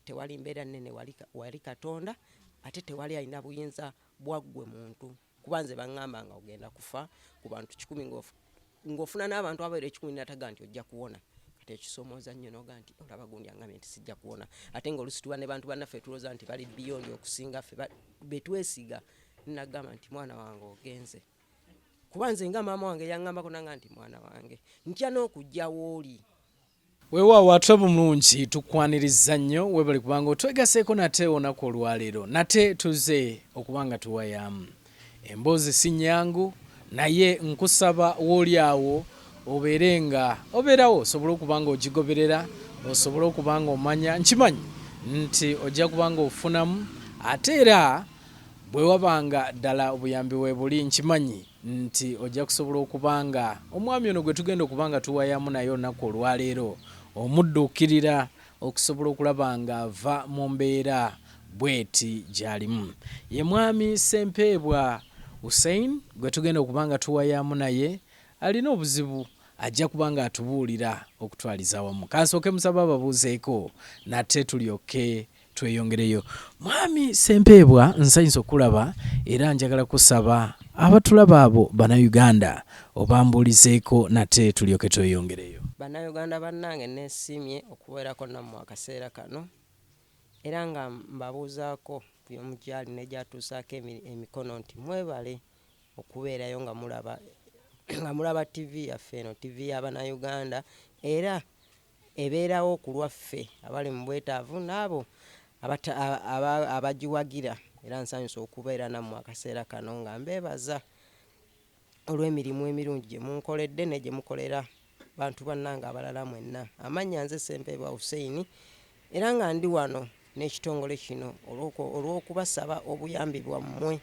tewali mbeera nnene wali katonda ate tewali alina buyinza bwaggwe muntu kuba nze baŋŋamba nga ogenda kufa ku bantu kikumi ng'ofuna n'abantu abaera ekikumi nataga nti ojja kuwona kati ekisomooza nnyo noga nti olaba gundi angambye nti sijja kuwona ate nga olusituba ne bantu bannaffe tulooza nti bali biyondi okusinga ffe betwesiga nagamba nti mwana wange ogenze kuba nze nga maama wange yaŋŋambako nanga nti mwana wange ntya n'okujja wooli Weewaawo ate obulungi tukwaniriza nnyo weebale kubanga otwegaseeko nate olunaku olwaleero nate tuze okuba nga tuwayaamu emboozi si nnyangu naye nkusaba wooli awo obeere nga obeerawo osobole okuba nga ogigoberera osobole okuba nga omanya nkimanyi nti ojja kuba nga ofunamu ate era bwe waba nga ddala obuyambi weebuli nkimanyi nti ojja kusobola okuba nga omwami ono gwe tugenda okuba nga tuwayamu naye olunaku olwaleero omudduukirira okusobola okulaba nga ava mu mbeera bweti gyalimu. Ye mwami Ssempeebwa Hussein gwe tugenda okuba nga tuwayamu naye alina obuzibu ajja kuba nga atubuulira okutwaliza awamu. Kansooke musabe ababuuzeeko nate tulyokke tweyongereyo mwami sempeebwa nsanyusa okulaba era njagala kusaba abatulaba abo banauganda obambuulizeeko nate tulyoke tweyongereyo banauganda bannange nesiimye okubeerako nammwe akaseera kano era nga mbabuuzaako yomugyali negyatuusaako emikono nti mwebale okubeerayo nga mulaba nga mulaba ttivi yaffe eno ttivi yabanauganda era ebeerawo ku lwaffe abali mu bwetaavu n'abo abagiwagira era nsanyuse okubeera nammwe akaseera kano nga mbeebaza olw'emirimu emirungi gye munkoledde ne gye mukolera bantu bannange abalala mwenna. Amannya nze Ssempeebwa Hussein Era nga ndi wano n'ekitongole kino olw'okubasaba obuyambi bwammwe.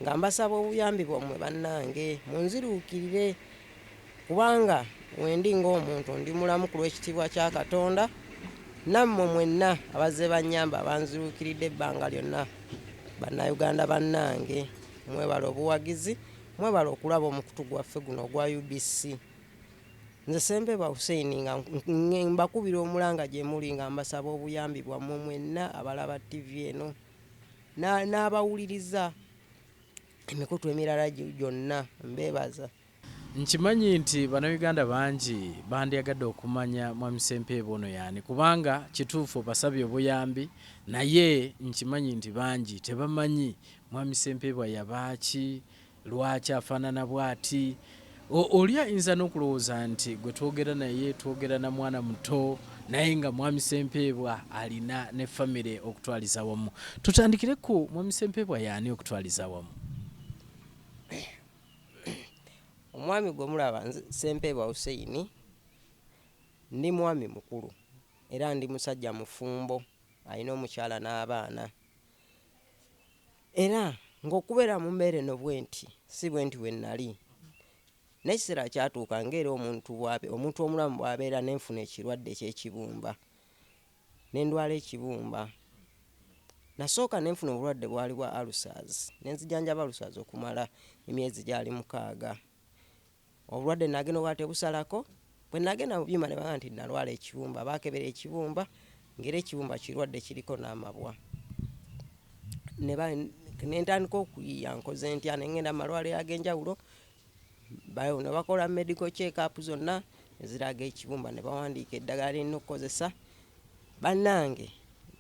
Nga mbasaba obuyambi bwammwe bannange, munziruukirire, kubanga wendi ng'omuntu ndi mulamu ku lw'ekitiibwa kya Katonda, nammwe mwenna abazze bannyamba abanziruukiridde ebbanga lyonna. Bannayuganda bannange, mwebale obuwagizi, mwebale okulaba omukutu gwaffe guno ogwa UBC. Nze Ssempebwa Hussein nga mbakubira omulanga gye muli nga mbasaba obuyambi bwammwe mwenna abalaba ttivi eno n'abawuliriza emikutu emirala gyonna. Mbeebaza. Nkimanyi nti Bannayuganda bangi bandyagadde okumanya Mwami Ssempeebwa ono y'ani kubanga kituufu obasabye obuyambi naye nkimanyi nti bangi tebamanyi Mwami Ssempeebwa yaba ki, Lwaki afaanana bw'ati? O, oli ayinza n'okulowooza nti gwe twogera naye, twogera na mwana muto, naye nga Mwami Sempeebwa alina ne famire okutwaliza awamu. Tutandikire ku Mwami Sempeebwa y'ani okutwaliza awamu? Omwami gwe mulaba nze Sempeebwa Hussein, ndi mwami mukulu era ndi musajja mufumbo, alina omukyala n'abaana. Era ng'okubeera mu mbeera eno bwenti, si bwenti bwe nnali. N'ekiseera kyatuuka ng'era omuntu bw'abe, omuntu omulamu bw'abeera, ne nfuna ekirwadde eky'ekibumba, ne ndwala ekibumba. Nnasooka ne nfuna obulwadde bwali bwa alusazi, ne nzijanjaba alusazi okumala emyezi gyali mukaaga. Obulwadde nagenda obwali tebusalako, bwe nagenda mu byuma ne bangamba nti nalwala ekibumba. Baakebera ekibumba ng'era ekibumba kirwadde kiriko n'amabwa. Ne ba, ne ntandika okuyiiya nkoze ntya, ne ngenda mu malwaliro ag'enjawulo, ne bakola medical check up zonna eziraga ekibumba ne bawandiika eddagala lye nnina okukozesa. Bannange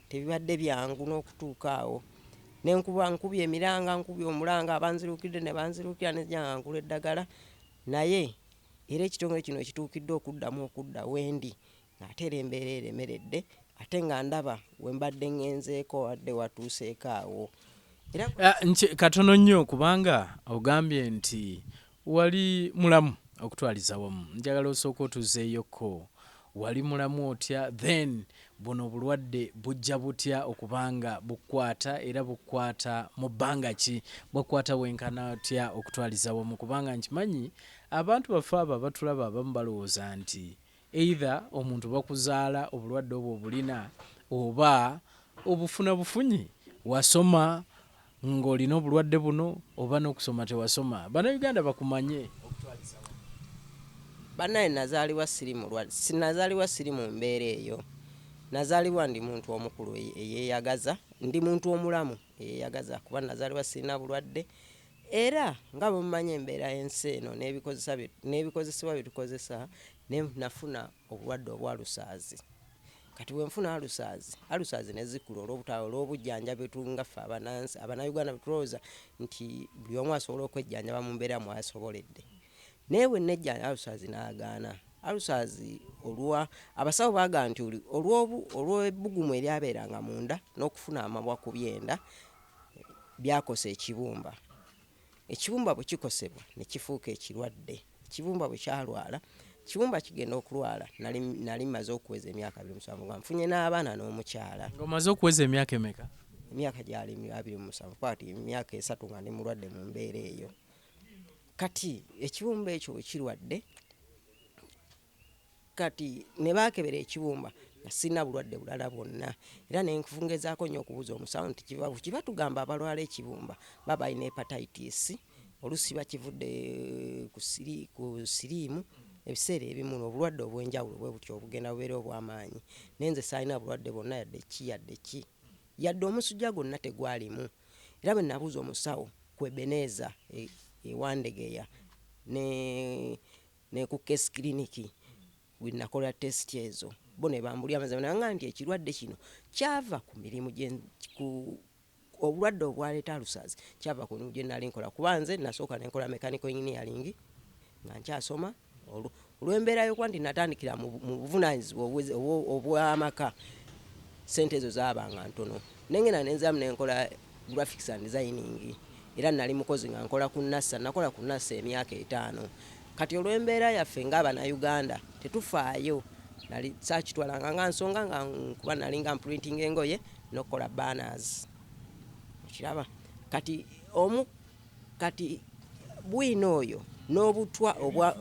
tebibadde byangu n'okutuuka awo ne nkuba nkubye emiranga nkubye omulanga abanziruukidde ne banziruukira ne nzija nga ngula eddagala naye era ekitongole kino we kituukidde okuddamu okudda we ndi ng'ate era embeera eremeredde ate nga ndaba we mbadde ŋŋenzeeko abadde watuuseeko awo era Ah, nki- katono nnyo kubanga ogambye nti Wali mulamu okutwaliza wamu njagala osooke otuzeeyo ko wali mulamu otya then buno obulwadde bujja butya okuba nga bukkwata era bukkwata mu bbanga ki bwakkwata wenkana otya okutwaliza wamu kubanga nkimanyi abantu baffe abo abatulaba abamu balowooza nti Either omuntu bakuzaala obulwadde obwo obulina oba obufuna bufunyi, wasoma nga olina obulwadde buno oba nokusoma tewasoma bana Uganda bakumanye. Banaye nazalibwa siri mulwadde sinazalibwa siri mumbeera eyo nazalibwa ndi muntu omukulu eyeyagaza ndi muntu omulamu eyeyagaza kuba nazalibwa sirina bulwadde. Era nga bwe mumanyi embeera y'ensi eno n'ebikozesa bye n'ebikozesebwa bye tukozesa ne nafuna obulwadde obwa alusaazi. Kati bwe nfuna alusaazi, alusaazi ne zikula olw'obuta olw'obujjanjabi tu nga ffe Abanansi Abannayuganda bwe tulowooza nti buli omu asobola okwejjanjaba mu mbeera mw'asoboledde. Naye bwe nejjanjaba alusaazi n'agaana. Alusaazi olwa abasawo baagamba nti oli olw'obu olw'ebbugumu eryabeeranga munda n'okufuna amabwa ku byenda byakosa ekibumba. Ekibumba bwe kikosebwa ne kifuuka ekirwadde. Ekibumba bwe kyalwala, ekibumba kigenda okulwala. Nali, nali mmaze okuweza emyaka abiri mu musanvu nga nfunye n'abaana n'omukyala. Nga omaze okuweza emyaka emeka? Emyaka gyali abiri mu musanvu, kuba kati emyaka esatu nga ndi mulwadde mu mbeera eyo. Kati ekibumba ekyo bwe kirwadde, kati ne baakebera ekibumba nga sirina bulwadde bulala bwonna era ne ngezaako nnyo okubuuza omusawo nti kiva ki kuba tugamba abalwala ekibumba baba balina hepatitis oluusi bakivudde ku siri ku siriimu ebiseera ebimu n'obulwadde obw'enjawulo bwe butyo obugenda bubeera obw'amaanyi naye nze saalina bulwadde bwonna yadde ki yadde ki yadde omusujja gwonna tegwalimu era bwe nabuuza omusawo ku Ebeneeza e- e Wandegeya ne ne ku Case Clinic we nakola test ezo bo ne bambulira amazima nanga nti ekirwadde kino kyava ku mirimu gye ku obulwadde obwaleeta alusazi kyava ku mirimu gye nali nkola kuba nze nasooka ne nkola mechanical engineering nga nkyasoma olw'embeera y'okuba nti natandikira mu buvunaanyizibwa obw'amaka sente ezo zaabanga ntono nengenda nenziramu nenkola Graphics and Designing era nali mukozi nga nkola ku NASA. Nakola ku NASA emyaka etaano. Kati olw'embeera yaffe nga Abanauganda tetufaayo, nali saakitwalanga nga nsonga nga kuba nalinga mprintinga engoye n'okukola banners. Okiraba? Kati omu kati bwino oyo n'obutwa obwa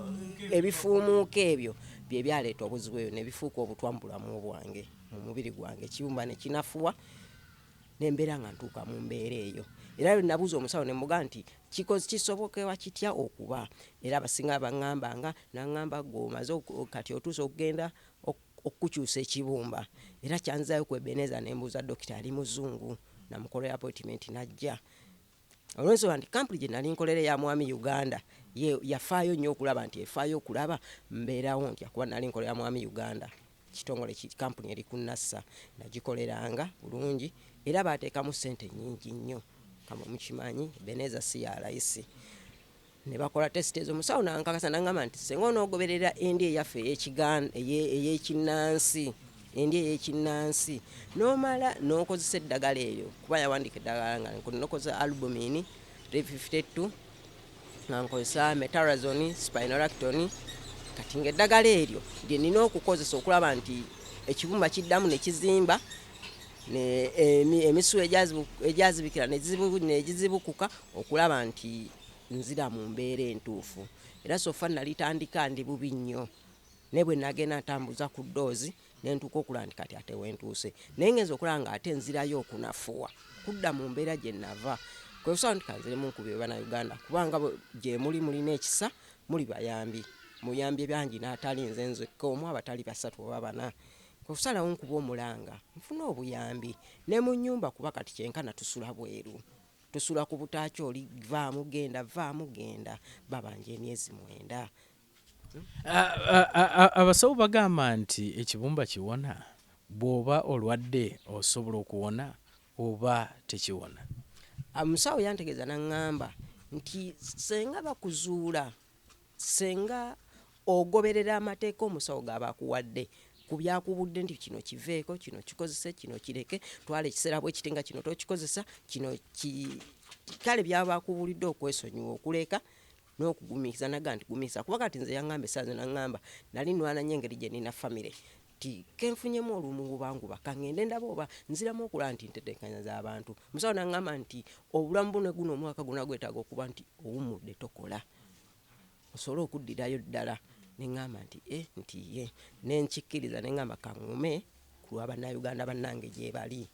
ebifuumuuka ebyo bye byaleeta obuzibu ebyo ne bifuuka obutwa mu bulamu bwange mu mubiri gwange ekiyumba ne kinafuwa ne mbeera nga ntuuka mu mbeera eyo era lwe nabuuza omusawo ne mmugamba nti kikoz kisobokewa kitya okuba era abasinga baŋŋambanga n'aŋŋamba ggwe omaze oku- kati otuuse okugenda ok- okukukyusa ekibumba era kyanzizaayo ku Ebenezer ne mbuuza dokita ali muzungu namukolera appointment n'ajja olwensonga nti kampuni gye nali nkolera eya mwami uganda yafaayo nnyo okulaba nti efaayo okulaba mbeerawo ntya kuba nali nkolera mwami uganda kitongole kampuni eri ku nassa nagikoleranga bulungi era baateekamu ssente nnyingi nnyo kamwe mukimanyi beneza si ya layisi ne bakola tesiti ezo musawo nankakasa nangamba nti senga onogoberera endi eyaffe eyekinnansi endi eyekinnansi nomala nokozesa eddagala eyo kuba yawandika eddagala nga nokozesa albumin 352 nga nkozesa metarazon spinolacton kati nga eddagala eryo lyenina okukozesa okulaba nti ekibumba kiddamu nekizimba emisu egyazibikira negizibukuka okulaba nti nzira mu mbeera entuufu era sofa nalitandika ndi bubi nnyo naye bwe nagenda ntambuza ku ddoozi ne ntuuka okulaba nti kati ate wentuuse naye ngenza okulaba nga ate nzirayo okunafuwa kudda mu mbeera gye nava kwe kusaba nti kanzire mu nkubi ebana uganda kubanga gye muli mulina ekisa muli bayambi muyambye bangi n'atali nze nzekka omu abatali basatu oba bana kwe kusalawo nkuba omulanga nfuna obuyambi ne mu nnyumba kuba kati kyenkana tusula bweru Tusula ku butaaki oli vaamu genda vaamu genda babanja emyezi mwenda. Abasawo bagamba nti ekibumba kiwona? Bw'oba olwadde osobola okuwona oba tekiwona? Omusawo yantegeeza n'ang'amba nti ssenga bakuzuula Singa ogoberera amateeka omusawo g'aba akuwadde ku by'akubudde nti kino kiveeko, kino kikozese, kino kireke, twala ekiseera bwe kiti nga kino tokikozesa, kino ki kale by'aba akubuulidde okwesonyiwa okuleka n'okugumiikiriza naga nti gumiikiriza kuba kati nze yangamba essaazi nangamba nali nwana nnyo engeri gye nina famire Kati kenfunyemu olumugubanguba kangende ndabe oba nziramu okulaba nti ntetenkanya zabantu musawo nangamba nti obulamu bwo ne guno omwaka gona gwetaaga okuba nti owumudde tokola osobole okuddirayo ddala nengamba nti e nti ye nenkikkiriza nengamba kangume kulwa banauganda banange gyebali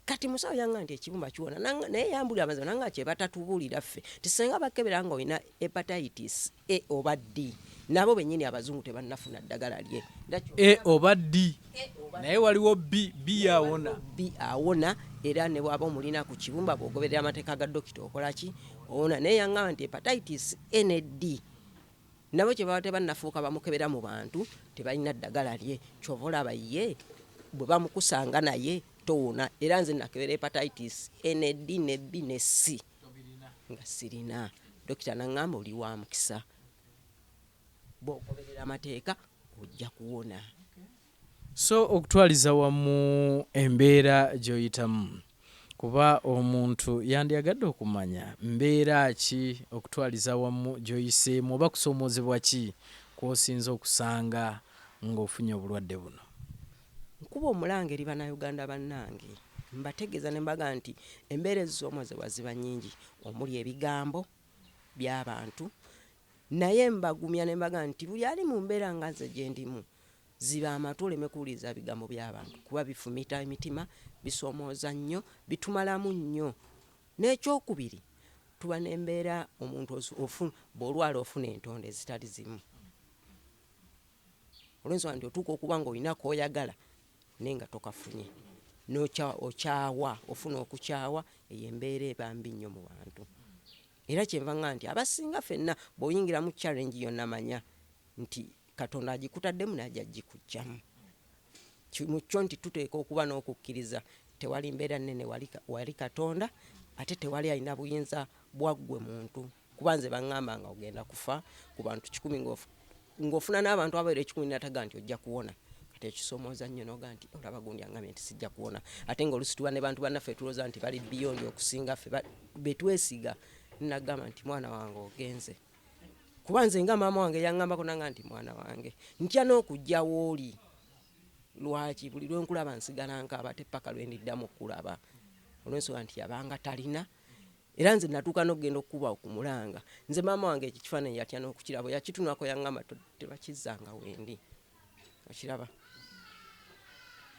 kati musawo yanga nti ekibumba kiwona naye yambulira amazima nanga kyebatatubuulira ffe nti senga bakebera nga olina hepatitis a oba d nabo benyini abazungu tebannafuna ddagala lye a oba d naye waliwo b b awona b awona era ne bwaba omulina ku kibumba bwogoberera amateeka ga dokita okolaki owona naye yangamba nti hepatitis a ne d Nabo kyebaba tebanafuuka bamukebera mu bantu tebalina ddagala lye kyova olaba ye bwebamukusanga naye towona era nze nakebera hepatitis NAD ne B ne C nga sirina dokita nangamba oli wa mukisa bwogoberera amateeka ojja kuwona. So okutwaliza wamu embeera gy'oyitamu kuba omuntu yandyagadde okumanya mbeera ki okutwaliza awamu gy'oyiseemu oba kusoomoozebwa ki kw'osinze okusanga ng'ofunye obulwadde buno. Nkuba omulanga eri Bannayuganda bannange mbategeeza ne mbagamba nti embeera ezisoomoozebwa ziba nnyingi omuli ebigambo by'abantu naye mbagumya ne mbagamba nti buli ali mu mbeera nga nze gye ndimu Ziba amatu oleme kuwuliriza bigambo by'abantu kuba bifumita emitima, bisoomooza nnyo, bitumalamu nnyo. N'ekyokubiri tuba n'embeera omuntu bw'olwala ofuna entondo ezitali zimu olwensonga nti otuuka okuba ng'olina koyagala naye nga tokafunye okyawa ofuna okukyawa eyo embeera eba mbi nnyo mu bantu era kyenva nga nti abasinga fenna bw'oyingira mu challenge yonna manya nti katonda agikutaddemu naja ajikujjamu mukyo nti tuteeka okuba n'okukkiriza tewali mbeera nnene wali katonda ate tewali alina buyinza bwaggwe muntu kuba nze baŋŋamba nga ogenda kufa ku bantu kikumi ng'ofuna n'abantu abaera ekikumi nataga nti ojja kuwona kati ekisomooza nnyo noga nti olaba gundi aŋŋambye nti sijja kuwona ate ng'olusi tuba ne bantu bannaffe tulooza nti bali biyonjo okusinga ffe betwesiga nagamba nti mwana wange ogenze kuba nze nga maama wange yaŋŋambako nanga nti mwana wange ntya n'okujja wooli lwaki buli lwe nkulaba nsigala nkaaba te paka lwe ndiddamu okulaba olw'ensonga nti yabanga talina era nze natuuka n'okugenda okukuba okumulanga nze maama wange ekyo kifaananyi yatya n'okukirabo yakitunako yaŋŋamba tebakizzanga wendi okiraba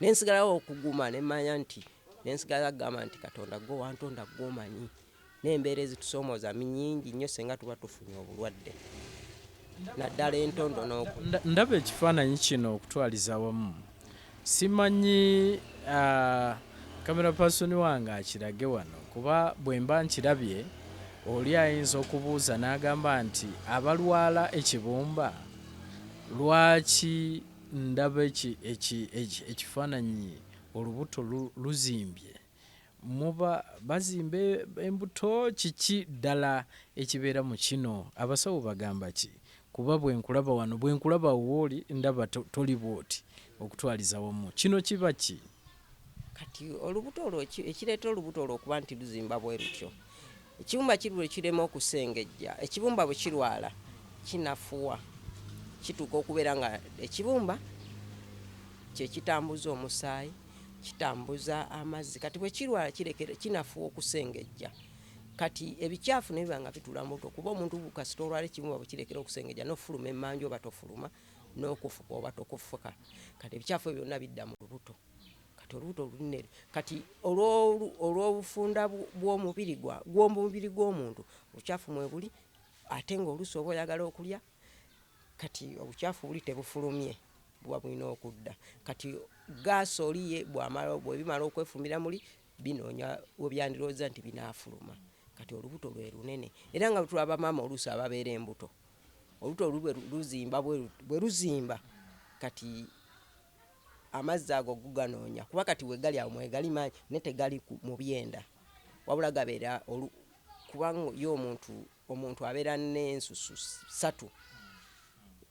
nensigalawo okuguma nemanya nti nensigala kugamba nti katonda gwe wantonda gwe omanyi nembeera ezitusomooza minyingi nnyo senga tuba tufunye obulwadde naddala entondo noku ndaba ekifaananyi kino okutwaliza wamu simanyi uh, kamera pasoni wange akirage wano kuba bwemba nkirabye oli ayinza okubuuza n'agamba nti abalwala ekibumba Lwaki ndaba ekifaananyi olubuto luzimbye? Muba bazimba embuto? Kiki ddala ekibeera mu kino? Abasawo bagamba ki? Kuba bwe nkulaba wano, bwe nkulaba awo w'oli ndaba toli bw'oti okutwaliza wamu. Kino kiba ki? kati olubuto olwo ekireeta olubuto olwo okuba nti luzimba bwe lutyo ekibumba kiri lwe kirema okusengejja ekibumba bwe kirwala kinafuwa kituuka okubeera nga ekibumba kyekitambuza omusaayi kitambuza amazzi kati bwe kirwala kirekera kinafuwa okusengejja kati ebikyafu nebiba nga bitula muto kuba omuntu kasita olwala ekibumba bwe kirekera okusengejja nofuluma emmanju oba tofuluma n'okufuka oba tokufuka kati ebikyafu ebyo byonna bidda mu lubuto kati olubuto lunene kati olw'obufunda bw'omubiri gw'omubiri gw'omuntu obukyafu mwebuli ate ng'oluusi oba oyagala okulya kati obukyafu buli tebufulumye buba bulina okudda kati gaasi oli ye bwamala bwebimala okwefumbira muli binoonya webyandirowooza nti binaafuluma kati olubuto lwe lunene era nga tulaba maama oluusi ababeera embuto oluta olu luzimba bwe luzimba kati amazzi ago guganoonya kuba kati wegali awo mwegali manyi naye tegali mu byenda wabula gabeera kubanga yo omuntu omuntu abeera n'ensusu satu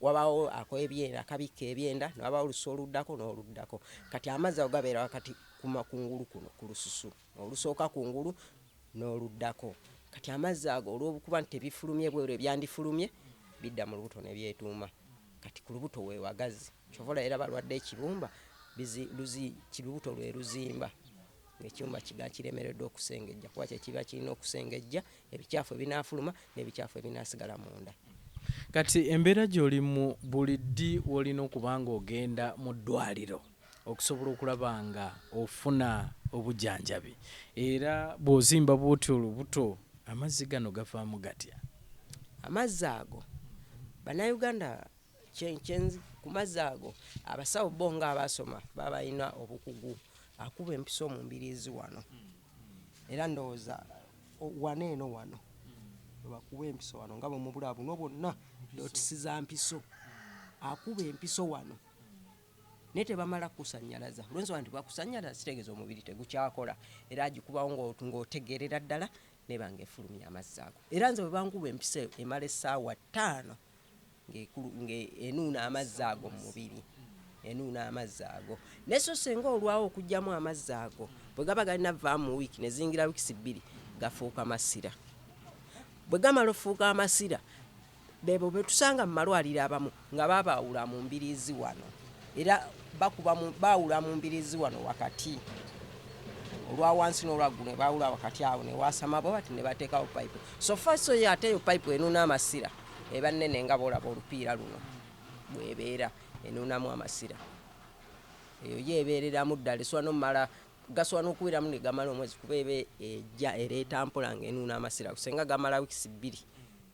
wabaawo akola ebyenda akabikka ebyenda newabaawo olusa oluddako n'oluddako kati amazzi ago gabeera wakati kumakungulu kuno ku lususu olusooka ku ngulu n'oluddako. Kati amazzi ago olw'okuba nti tebifulumye bweru ebyandifulumye bidda mu lubuto ne byetuuma. Kati ku lubuto we wagazi. Kyova olaba era balwadde ekibumba bizi, luzi, kibubuto lwe luzimba ng'ekibumba kiga kiremereddwa okusengejja kuba kye kiba kirina okusengejja ebicaafu ebinaafuluma n'ebicaafu ebinaasigala munda. Kati embeera gy'olimu buli ddi w'olina okuba ng'ogenda mu ddwaaliro? okusobola okulaba nga ofuna obujanjabi era bwozimba bwotyo olubuto amazzi gano gavaamu gatya amazzi ago banauganda ku mazzi ago abasawo bo nga abasoma babalina obukugu akuba empiso mu mbirizi wano era ndowooza wano eno wano webakuba empiso wano nga bwemubulaa buno bwonna dotisi za mpiso akuba empiso wano naye tebamala kukusannyalaza olwensonga nti bwakusannyalaza kitegeeza omubiri tegukyakola era agikubawo ng'otegeerera ddala neba ng'efulumya amazzi ago era nze bwe bankuba empisa emala essaawa ttaano ng'enuuna amazzi ago mu mubiri enuuna amazzi ago naye so senga olwawo okugyamu amazzi ago bwe gaba galina vaamu mu wiiki ne ziyingira wiikisi bbiri gafuuka masira bwe gamala ofuuka amasira Beebo betusanga mu malwaliro abamu nga babaawula mu mbiriizi wano era baawula mu mbiriizi wano wakati olwa wansi n'olwaggulu ne baawula wakati awo ne waasama bwe bati ne bateekawo payipu so far so ye ate eyo payipu enuuna amasira eba nnene nga boolaba olupiira luno bwebeera enuunamu amasira eyo ye ebeereramu ddala esobola nomumala gasobola n'okubeeramu ne gamala omwezi kuba eba ejja ereeta mpola ng'enuuna amasira kusenga gamala wiikisi bbiri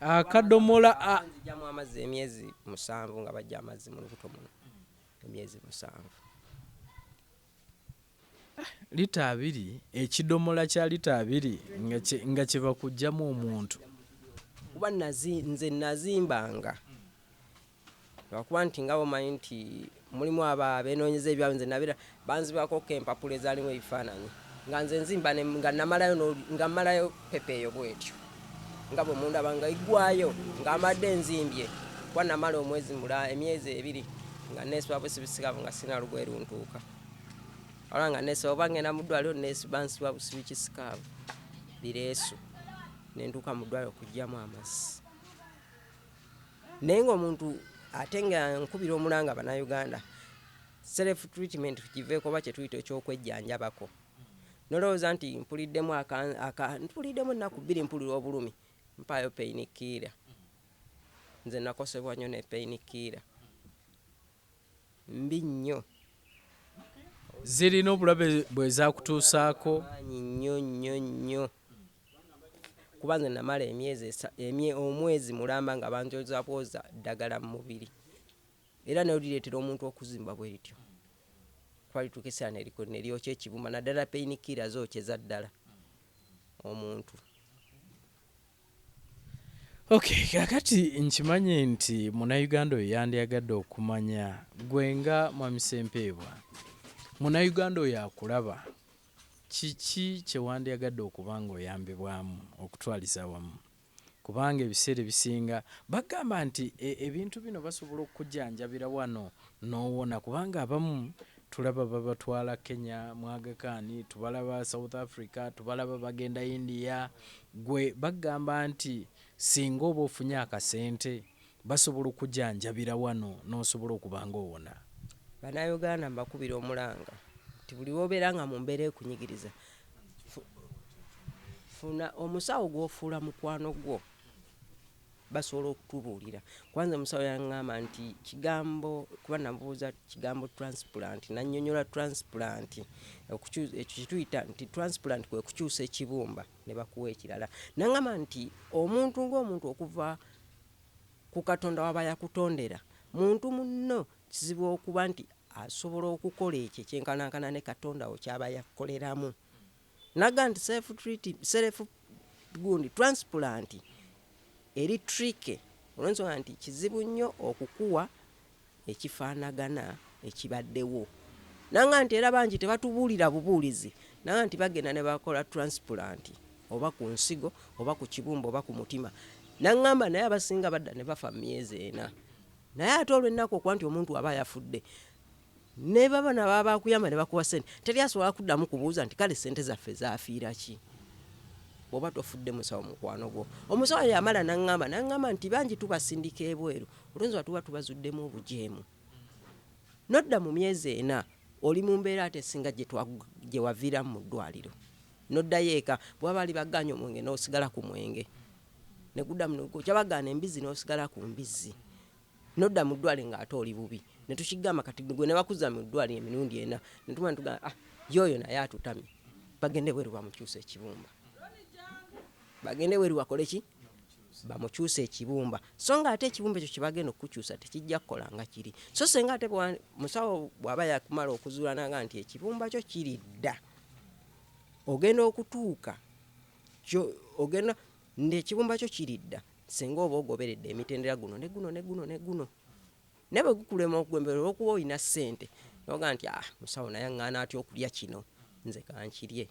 akadomola jamu amazzi emyezi musanvu nga bajja amazzi mu lubuto muno emyezi musanvu lita abiri ekidomola kya lita abiri nga kyebakugjamu omuntu kuba nze nazimbanga Lwakuba nti nga bwomanyi nti mulimu abo abenoonyeza ebyabwe nze nabeera banzibakokko empapula ezaalimu ebifaananyi nga nze nzimba ne nga namalayo no nga mmalayo ppepa eyo bwetyo nga bwe mundaba nga eggwaayo nga mbadde nzimbye kuba namala omwezi mula emyezi ebiri nga nneesiba busibisikavu nga sirina lugoye luntuuka wabula nga nneesiba oba ng'enda mu ddwaliro nneesi bansiba busibi kisikaavu bireesu ne ntuuka mu ddwaliro okuggyamu amazzi. Naye nga omuntu ate nga nkubira omulanga banauganda self treatment tukiveko oba kyetuyita ekyokwejjanjabako nolowooza nti mpuliddemu aka aka mpuliddemu ennaku bbiri mpulira obulumi mpaayo pain killer nze nakosebwa nnyo ne pain killer mbi nnyo zirina obulabe bwezakutuusaako nnyo nnyo nnyo kuba nze namala emyezi esa, omwezi mulamba nga banjozabwoza ddagala mu mubiri era nalyo lireetera omuntu okuzimba bwe lityo kuba lituuka ekiseera ne likola ne lyokya ekibumba naddala peyinikiira zookyeza ddala omuntu. Okay, kakati nkimanyi nti munayuganda oyo yandyagadde okumanya gwe nga Mwami Sempeebwa munayuganda oyo akulaba Kiki kye wandyagadde okuba ng'oyambibwamu okutwaliza awamu? Kubanga ebiseera ebisinga bakugamba nti ebintu bino basobola okukujjanjabira wano n'owona kubanga abamu tulaba babatwala Kenya mu Aga Khan, tubalaba South Africa, tubalaba bagenda India, ggwe bakugamba nti ssinga oba ofunye akasente Basobola okukujanjabira wano n'osobola okuba nga owona. Bannayuganda mbakubira omulanga nti buli lw'obeera nga mu mbeera ekunyigiriza, funa omusawo gw'ofuula mukwano gwo basobola okutubuulira kuba nze omusawo yangamba nti kigambo kuba namubuuza kigambo transplant nannyonnyola transplant ekyo kituyita nti transplant kwe kukyusa ekibumba ne bakuwa ekirala nangamba nti omuntu ng'omuntu okuva ku Katonda w'aba yakutondera. Muntu munno kizibu okuba nti asobola okukola ekyo ekyenkanankana ne Katonda wo ky'aba yakukoleramu. Nagamba nti self treat, self gundi transplant eri tricky olw'ensonga nti kizibu nnyo okukuwa ekifaanagana ekibaddewo nanga nti era bangi tebatubuulira bubuulizi nanga nti bagenda ne bakola transplant oba ku nsigo oba ku kibumba oba ku mutima nangamba naye abasinga badda ne bafa myezi ena naye ate olw'ennaku okuba nti omuntu aba yafudde ne baba nababa bakuyamba ne bakuwa sente teri asobola kuddamu kubuuza nti kale sente zaffe zafiira ki bwoba tofudde musawo mukwano gwo omusawo yamala nangamba nangamba nti bangi tubasindika ebweru Oluusi nga tuba tubazuddemu obujeemu n'odda mu myezi ena oli mu mbeera ate esinga gye waviiramu mu ddwaaliro n'oddayo eka. Bwe baba baali bagaanyi omwenge n'osigala ku mwenge ne guddamu ne gwokya, bagaana embizzi n'osigala ku mbizzi n'odda mu ddwaaliro ng'ate oli bubi. Ne tukigamba kati ggwe ne bakuzza mu ddwaaliro emirundi ena ne tumala ne tugamba ah ye oyo naye atutamye, bagende ebweru bamukyuse ekibumba, bagende ebweru bakole ki? bamukyusa ekibumba so nga ate ekibumba ekyo kyebagenda okukukyusa tekijja kukola nga kiri so senga ate musawo bwaba yakumala okuzulananga nti ekibumba kyo kiri dda ogenda okutuuka ogenda nti ekibumba kyo kiri dda senga oba ogoberedde emitendera guno ne guno ne guno ne guno naye bwe gukulema okugwembera olwokuba olina ssente noga nti ah musawo naye aŋŋaana atya okulya kino nze kankirye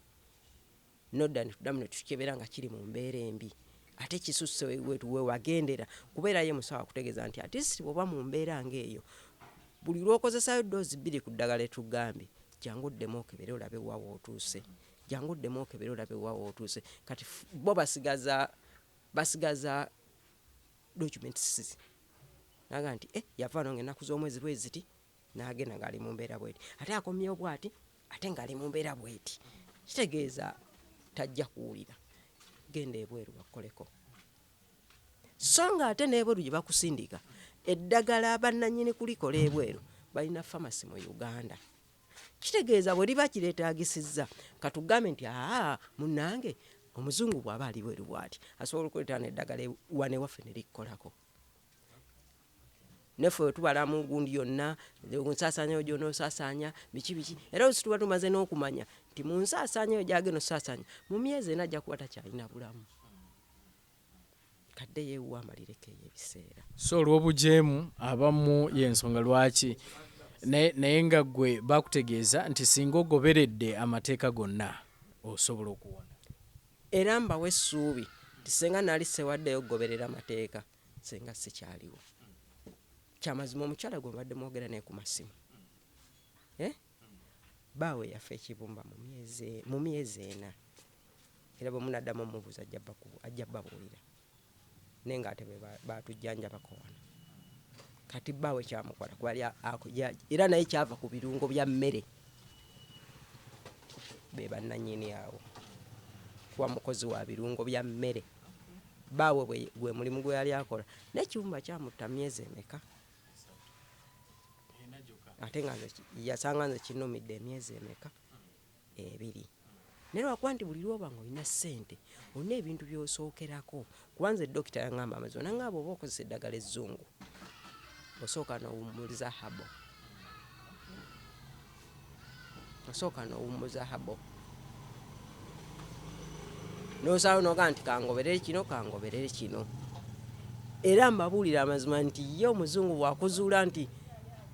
Nodda ne tuddamu ne tukikebera nga kiri mu mbeera embi ate kisusse we wagendera kubeera ye musawo akutegeeza nti at least bw'oba mu mbeera ng'eyo buli lw'okozesaayo ddoozi bbiri ku ddagala lye tukugambye jangu oddemu okebere olabe wa w'otuuse jangu oddemu okebere olabe wa w'otuuse kati f- bo basigaza basigaza documents naga nti eh, yavaano ng'ennaku z'omwezi bwe ziti n'agenda ng'ali mu mbeera bweti ate akomyewo bwati ate ng'ali mu mbeera bweti kitegeeza tajja kuwulira genda ebweru bakukoleko so nga ate n'ebweru gye bakusindika eddagala bannanyini kulikola ebweru balina famasi mu uganda kitegeeza bwe liba kireetaagisizza katugambe nti aa munange omuzungu bw'aba ali bweru bwati asobola okuleeta neddagala wanewaffe ne likkolako ne ffe bwe tubalamu gundi yonna ku nsaasaanya eyo gy'onoba osaasaanya biki biki era oluusi tuba tumaze n'okumanya nti mu nsaasaanya eyo gy'agenda osaasaanya mu myezi ena ajja kuba takyalina bulamu kadde yeewuwo amalireko eyo ebiseera so olw'obujeemu abamu y'ensonga lwaki naye nga gwe bakutegeeza nti singa ogoberedde amateeka gonna osobola okuwona era mbawa essuubi nti senga nali sewaddeyo okugoberera amateeka senga sikyaliwo kyamazima omukyala gwe mbadde mwogera naye ku masimu eh? baawe yafa ekibumba mu myezi ena era bwe munaddamu omubuuza ajja babuulira naye nga ate be batujjanjabako wano kati baawe kyamukola kuba era naye kyava ku birungo bya mmere be bannanyini awo kuba mukozi wa birungo bya mmere baawe bwe- gwe mulimu gwe yali akola naye kiwumba kyamutta myezi emeka ate nga nze ki- yasanga nze kinumidde emyezi emeka ebiri naye lwakuba nti buli lwoba nga olina ssente olina ebintu byosookerako kuba nze dokita yangamba amazima nanga bwoba okozesa eddagala ezzungu osooka nowumuliza habo osooka n'owummuza habo n'osalawo noga nti kangoberere kino kangoberere kino era mbabuulira amazima nti ye omuzungu bwakuzuula nti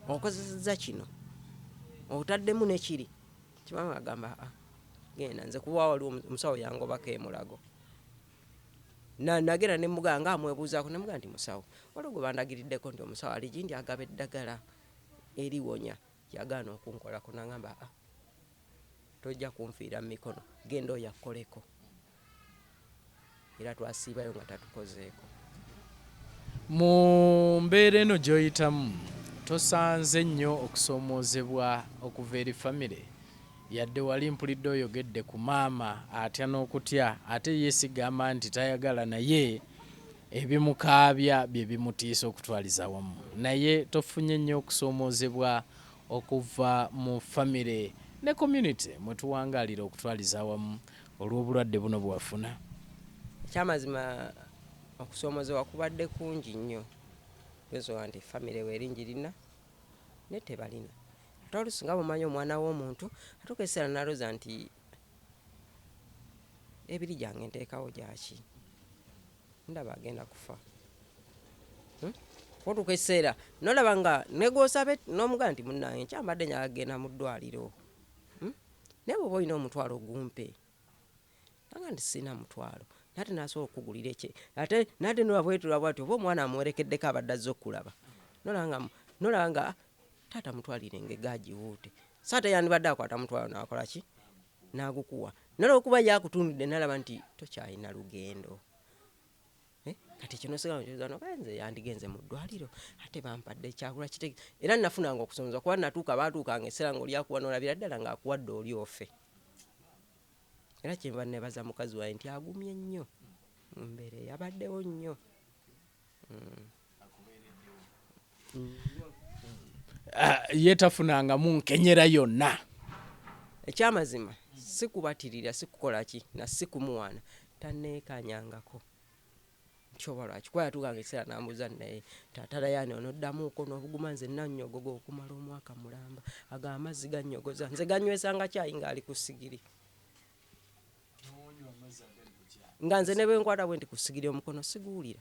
okozeseza kino otaddemu nekiri kibanga agamba ah, genda nze kuba waliwo omusawo yangobako emulago nagera nemugaa nga amwebuuzaako nemugaa nti musawo waliwo gwe bandagiriddeko nti omusawo ali gindi agaba eddagala erionya Yagaana okunkolako n'angamba aa tojja kunfiira mu mikono genda oyo akukoleko era twasiibayo nga tatukozeeko. Mu mbeera eno gy'oyitamu tosanze nnyo okusoomoozebwa okuva eri famire? Yadde wali mpulidde oyogedde ku maama atya nokutya ate ye sigamba nti tayagala naye ebimukaabya byebimutiisa okutwaliza awamu naye tofunye nnyo okusoomozebwa okuva mu family ne community mwetuwangaalira okutwaliza awamu olwobulwadde buno bwewafuna? Ekyamazima okusoomozebwa kubadde kungi nnyo kugeza nti family weri njirina naye tebalina Ate olusi nga bwomanyi omwana womuntu atuka ekiseera naloza nti ebiri gyange ntekawo gyaki ndaba agenda kufa hmm? otuka ekiseera nolaba nga negwosaba nomugaa nti munange nkyambadde nyaga kugenda mu ddwaliro hmm? naye bwoba olina omutwalo gumpe nanga nti sirina mutwalo nate nasobola okukugulira ekye ate nate nola bwetulaba bwati oba omwana amuwerekeddeko abadde azze okukulaba nolaba nga taata mutwalire engege agiwuute so ate yandibadde akwata mutwalo nakola ki nagukuwa nala okuba ye akutunudde nalaba nti tokyalina lugendo eh, kati ekyo nosigala nkibuza noba nze yandigenze mu ddwaliro ate bampadde ekyagula kitege era nafunanga okusonza kuba natuuka batuukanga eseera ngaolyakuwa nolabira ddala ngaakuwadde oli ofe Era kyenva nebaza mukazi wange nti agumye nnyo mu mbeera eyo, abaddewo nnyo nnyo. Ye tafunangamu nkenyera yonna? Ekyamazima si kubatirira, si kukola ki, na si kumuwaana, tanneekaanyangako. kyoba lwaki kuba yatuukanga ekiseera n'ambuuza naye taata Rayani onoddamuuko n'obuguma nze nannyogoga okumala omwaka mulamba ago amazzi gannyogoza nze gannywesanga kyayi ng'ali ku sigiri nga nze ne bwe nkwata bwe nti ku sigiri omukono siguwulira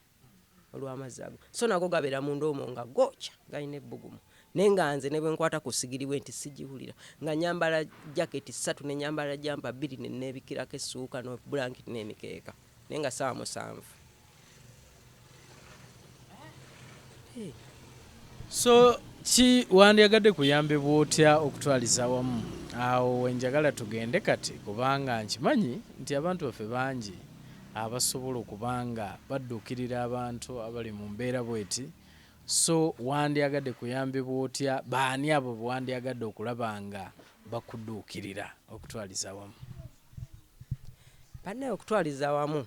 olw'amazzi ago so nago gabeera munda omwo nga gookya galina ebbugumu naye nga nze ne bwe nkwata ku sigiri bwe nti sigiwulira nga nyambala jaketi ssatu ne nyambala jampa bbiri ne neebikirako essuuka n'obulankiti n'emikeeka Naye nga sawa musanvu. So ki wandiyagadde kuyambibwa otya okutwaliza wamu awo wenjagala tugende kati kubanga nkimanyi nti abantu baffe bangi abasobola okuba nga badduukirira abantu abali mu mbeera bweti so wandyagadde kuyambibwa otya baani abo bewandyagadde okulaba nga bakudduukirira okutwaliza wamu Banaye okutwaliza awamu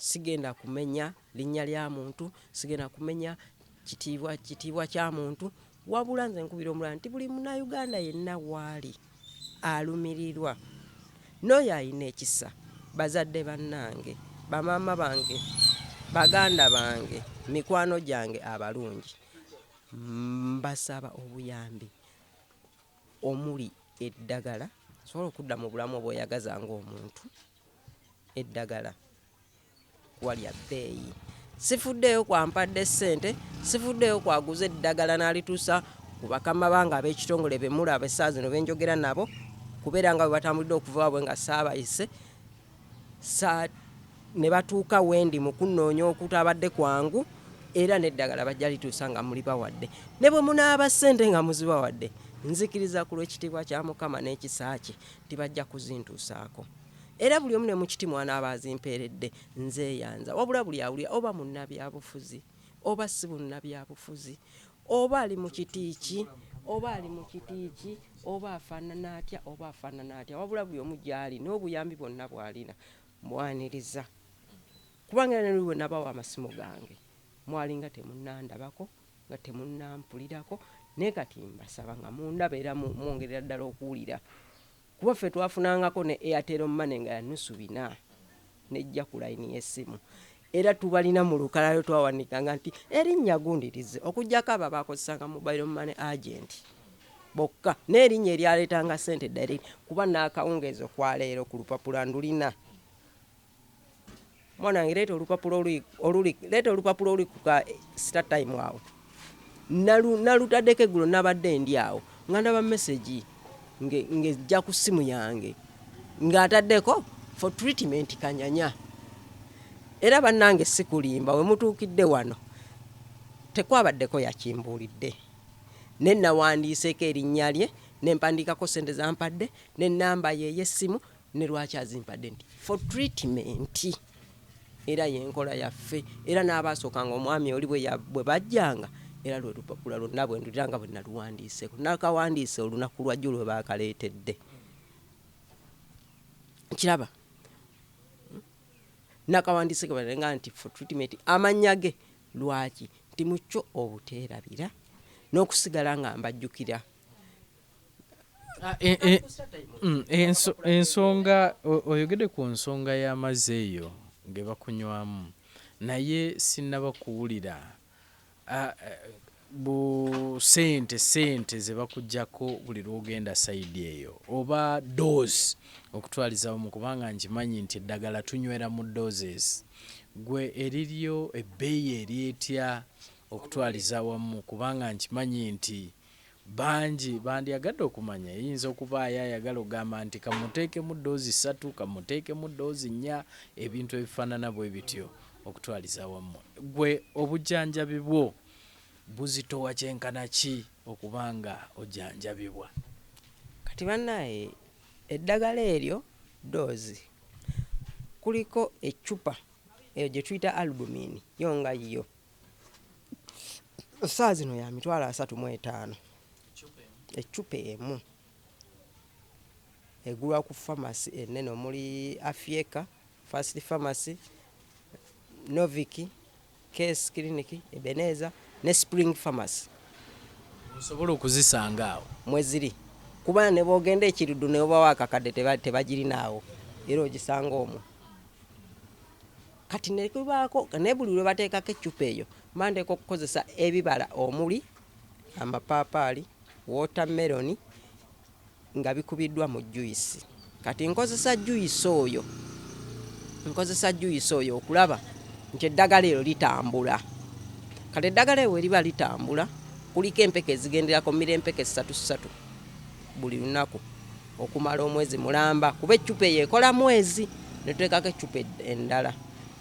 sigenda kumenya linnya lya muntu, sigenda kumenya kitiibwa kitiibwa kya muntu, wabula nze nkubira omulala nti buli munauganda yenna waali alumirirwa n'oyo alina ekisa bazadde bannange bamaama bange baganda bange mikwano gyange abalungi mbasaba obuyambi. omuli eddagala asobole okudda mu bulamu obweyagaza ng'omuntu, eddagala kuba lya bbeeyi. Sifuddeeyo ku ampadde ssente, sifuddeeyo ku aguze eddagala n'alituusa ku bakama bange ab'ekitongole be mulaba essaawa zino be njogera nabo kubeera nga bwe batambulidde okuva waabwe nga saabayise. sa ne batuuka wendi mu kunnoonya okutabadde kwangu era n'eddagala bajja lituusa nga mulibawadde ne bwe munaaba ssente nga muzibawadde nzikiriza ku lw'ekitiibwa kya mukama n'ekisa kye nti bajja kuzintuusaako era buli omu ne mu kiti mwanaaba azimpeeredde nzeeyanza wabula buli awulira oba munnabyabufuzi oba si bunnabyabufuzi Oba ali mu kiti ki, oba ali mu kiti ki, oba afaanana atya, oba afaanana atya, wabula buli omu gy'ali n'obuyambi bwonna bw'alina mmwaniriza. Kubanga era ne luli bwe nabawa amasimu gange, mwalinga temunnandabako, nga temunnampulirako, naye kati mbasaba nga mundaba era mwongerera ddala okuwulira. Kuba ffe twafunangako ne Airtel money nga ya nusu bina nejja ku line y'essimu era tubalina mu lukalala lwe twawandiikanga nti erinnya gundi lizze okuggyako abo abaakozesanga mobile money agent bokka n'erinnya eryaleetanga ssente direct kuba n'akawungeezi okwa leero ku lupapula ndulina mwana wange leeta olupapula oluli leeta olupapula oluli kuka star time awo nalutadeko eggulo nabadde ndi awo nga ndaba message ngejja ku ssimu yange ng'ataddeko for treatment kanyanya era bannange sikulimba we mutuukidde wano tekwabaddeko yakimbuulidde ne nawandiiseeko erinnya lye ne mpandiikako ssente zampadde ne nnamba ye ey'essimu ne lwaki azimpadde nti for treatment era yenkola yaffe era n'abaasookanga omwami oli bwe bajjanga era lwe lupapula lwonna bwe ndulira nga bwe naluwandiiseeko nakawandiise olunaku lwajjo lwe baakaleetedde kiraba nakawandiise kebalenga nti for treatment amannya ge lwaki nti mukyo obuteerabira n'okusigala nga mbajjukira Ah, e, e, mm, ensonga oyogede ku nsonga y'amazzi eyo gebakunywamu naye sinaba kuwulira ah, eh, bu sente sente zebakujjako buli lwogenda saidi eyo oba dose okutwalizawo mu kubanga nkimanyi nti eddagala tunywera mu doses gwe eriryo ebbeeyi eryetya okutwaliza wamu kubanga nkimanyi nti Bangi bandyagadde okumanya eyinza okubaayo ayagala okugamba nti ka mmuteekemu ddoozi ssatu, ka mmuteekemu ddoozi nnya, ebintu ebifaanana bwe bityo okutwaliza awamu. Ggwe obujjanjabi bwo buzitowa kyenkana ki okuba ng'ojjanjabibwa? Kati bannaaye eddagala eryo ddoozi, kuliko eccupa eyo gye tuyita albumin yo nga yo saa zino ya mitwalo asatu mu etaano eccupa emu egulwa ku famasi enene omuli afieka fast famasi noviki case clinic ebeneza ne spring famasi osobola okuzisanga awo mweziri kuba ne bwogenda ekirudu ne obawo akakadde tebagirinaawo era ogisanga omwo Kati ne lubaako ne buli lwe bateekako eccupa eyo mba nteekwa okukozesa ebibala omuli amapaapaali, wootameroni nga bikubiddwa mu juyisi. Kati nkozesa juyisi oyo nkozesa juyisi oyo okulaba nti eddagala eryo litambula. Kati eddagala eryo bwe liba litambula kuliko empeke ezigenderako, mmira empeke ssatu ssatu buli lunaku. okumala omwezi mulamba kuba eccupa eyo ekola mwezi netutekako eccupa endala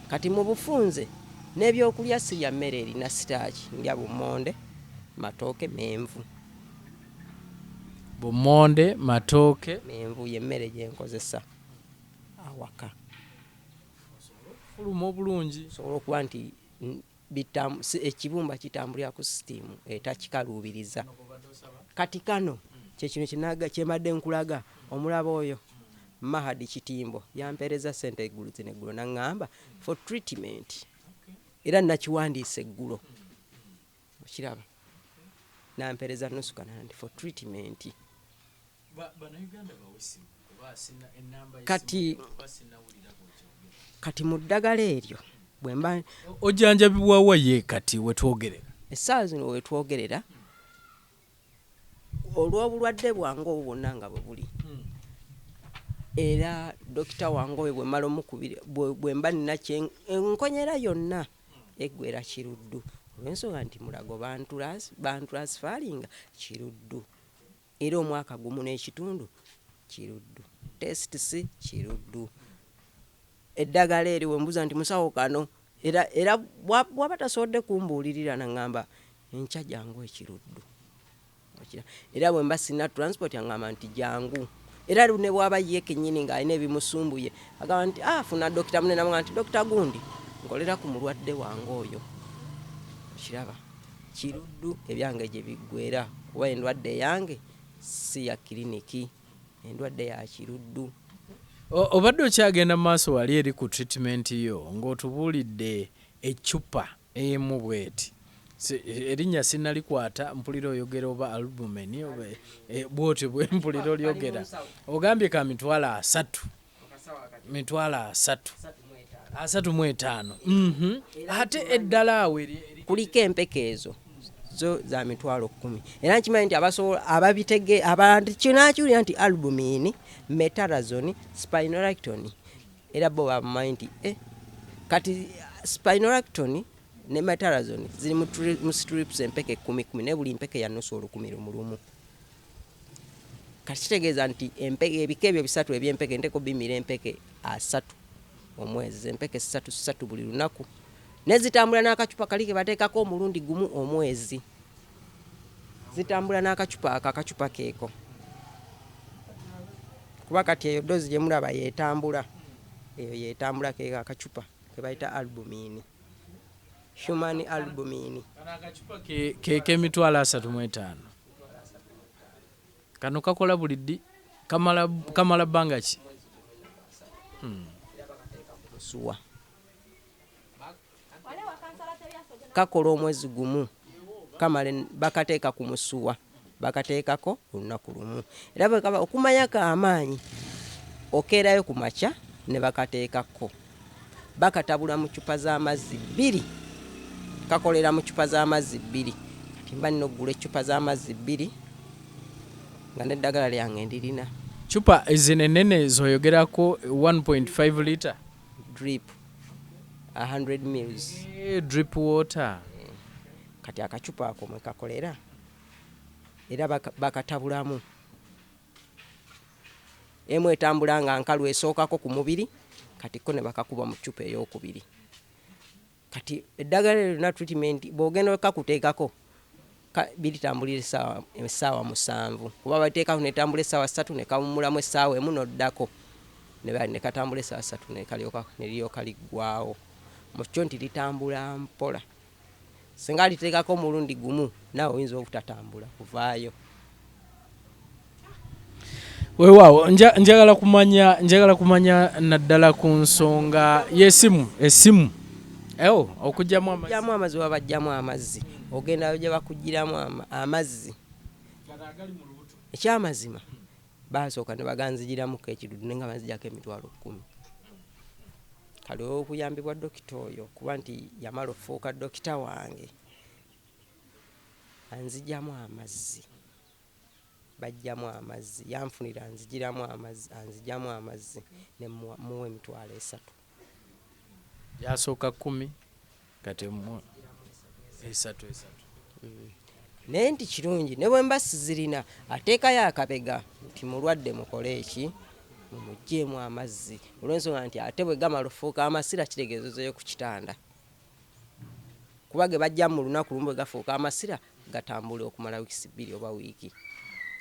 kati mu bufunze n'ebyokulya sirya mmere erina sitaaki ndya bummonde matooke menvu bummonde matooke menvu yemmere gyenkozesa awaka fuluma obulungi osobola okuba nti bitam si ekibumba kitambulira ku sitiimu etakikaluubiriza kati kano kye kino kinaga kye mbadde nkulaga omulaba oyo Mahad Kitimbo yampeerezza ssente eggulu zino eggulo n'aŋŋamba for treatment era nakiwandiise eggulo okiraba nampeereza nusu kanana nti for treatment kati kati mu ddagala eryo bwemba ojjanjabibwawa ye kati wetwogerera essaawa zino wetwogerera olw'obulwadde bwange obwo bwonna nga bwe buli hmm. era dokita wange oyo bwemala omukubira bwemba nina enkonyera yonna eggwera kiruddu olwensonga nti mulago bantulansifaalinga kiruddu Era omwaka gumu n'ekitundu kiruddu. Tests kiruddu. Eddagala eryo wembuza nti musawo kano era era bwaba tasobodde kumbuulirira nangamba enkya jangu ekiruddu. Era bwemba sina transport angamba nti jangu. Era ne bwaba ye kenyini nga alina ebimusumbuye agamba nti ah funa dokita mune namugamba nti dokita gundi nkolera ku mulwadde wange oyo. Okiraba? Kiruddu ebyange gye biggweera kuba endwadde eyange si ya kiriniki, endwadde ya kiruddu. Obadde okyagenda mu maaso wali eri ku treatment yo ng'otubuulidde eccupa emu bweti. Erinnya sinnalikwata, mpulira oyogera oba albumen oba bwotyo bwe mpulira olyogera. Ogambye ka mitwalo asatu. mitwalo asatu asatu mu etaano mhm. ate eddala awo kuliko empeke ezo zo za mitwalo kumi era nkimanyi nti abasobola ababitege abakinakiwulira nti albumin metarazon spinolacton era bo bamumanyi nti eh, kati spinolacton ne metarazon ziri mu strips empeke kumi kumi naye buli mpeke yanusa olukumi lumulumu kati kitegeeza nti ebika ebyo bisatu ebyempeke nteko bimira empeke asatu omwezi empeke satu satu buli lunaku nezitambula n'akacupa kali ke bateekako omulundi gumu omwezi zitambula n'akacupa ako akacupa keeko kuba kati eyo doozi gye mulaba yetambula eyo yetambula keeko akacupa ke bayita albumiini human albumiini keeko emitwalo asatu mu etaano kano kakola buli ddi kamala kamala bbanga ki hmm. suwa kakola omwezi gumu kamale bakateeka ku musuwa bakateekako olunaku lumu era bwekaba okumanyako amaanyi okeerayo ku makya ne bakateekako bakatabula mu ccupa z'amazzi bbiri, kakolera mu ccupa z'amazzi bbiri. Kati mba nina okugula eccupa z'amazzi bbiri nga n'eddagala lyange ndirina. Ccupa zino ennene z'oyogerako 1.5 litre? Drip 100 mils. Eh, drip water. Kati akacupa ako mwe kakolera era bakatabulamu. emu etambula nga nkalu esookako ku mubiri kati ko ne bakakuba mu ccupa eyookubiri. Kati eddagala eryo lyonna treatment bw'ogenda okakuteekako biritambulira essaawa essaawa musanvu kuba baliteekako ne litambula essaawa ssatu ne kawummulamu essaawa emu n'oddako ne katambula essaawa ssatu ne kalyoka ne liryoka liggwaawo mu kyo nti litambula mpola. Singa aliteekako omulundi gumu naawe oyinza obutatambula kuvaayo. Weewaawo njagala kumanya njagala kumanya naddala ku nsonga y'essimu essimu eo okugyamu amazzi oba bajjamu amazzi ogenda gye bakugiramu amazzi ekyamazima Baasooka ne baganzigiramuko ekidudu ne nga banzigyako emitwalo kkumi. Kati olw'okuyambibwa dokita oyo kuba nti yamala okufuuka dokita wange, anzigyamu amazzi, baggyamu amazzi, yanfunira anzigiramu amazzi, anzigyamu amazzi ne mmuwa emitwalo esatu. Yasooka kkumi kati emu esatu esatu. Naye nti kirungi ne bwe mba sizirina ateekayo akabega nti mulwadde mukole eki mumuggyeemu amazzi olw'ensonga nti ate bwe gamala okufuuka amasira kitegeeza ozzeeyo ku kitanda kuba ge bajja mu lunaku lumu bwe gafuuka amasira gatambula okumala wiikisi bbiri oba wiiki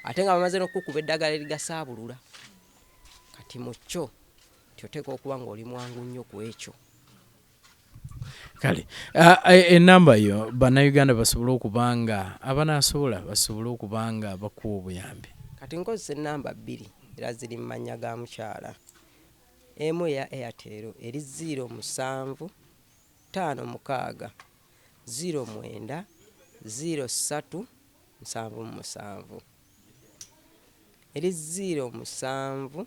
ate nga bamaze n'okukukuba eddagala erigasaabulula kati mu kyo nti oteekwa okuba ng'oli mwangu nnyo ku ekyo kale enamba yo bannayuganda basobole okuba nga abanaasobola basobole okuba nga bakuwa obuyambi kati nkozesa enamba bbiri era ziri mu mannya ga mukyala emu eya airtel eri ziiro musanvu ttaano mukaaga ziiro mwenda ziiro ssatu nsanvu mu musanvu eri ziiro musanvu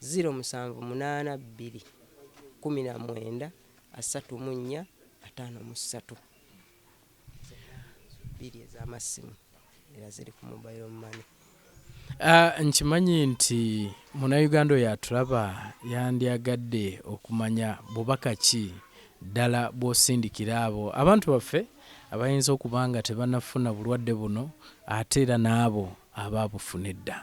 Ziro musanvu munaana bbiri kkumi na mwenda asatu mu nnya ataano mu ssatu bbiri ez'amassimu era ziri ku mobile money. Ah, nkimanyi nti munayuganda oyo atulaba yandyagadde okumanya bubaka ki ddala bw'osindikira abo abantu baffe abayinza okuba nga tebanafuna bulwadde buno ate era n'abo abaabufuna edda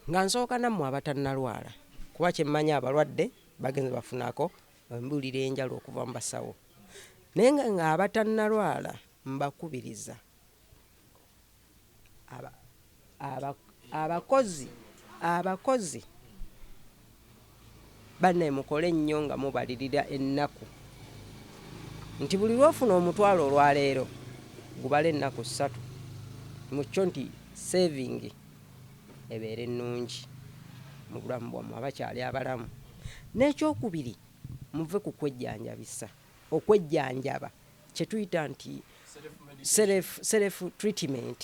Nga nsooka nammwe abatannalwala kuba kye mmanyi abalwadde bagenze bafunako embuulira enjalu okuva mu basawo naye nga ng'abatannalwala mbakubiriza aba, aba, abakozi abakozi Banaye mukole nnyo nga mubalirira ennaku nti buli lwofuna omutwalo olwaleero gubale ennaku ssatu mukyo nti saving ebeere nnungi mubulamu bwamwe abakyali abalamu nekyokubiri muve kukwejjanjabisa okwejjanjaba kyetuyita nti self treatment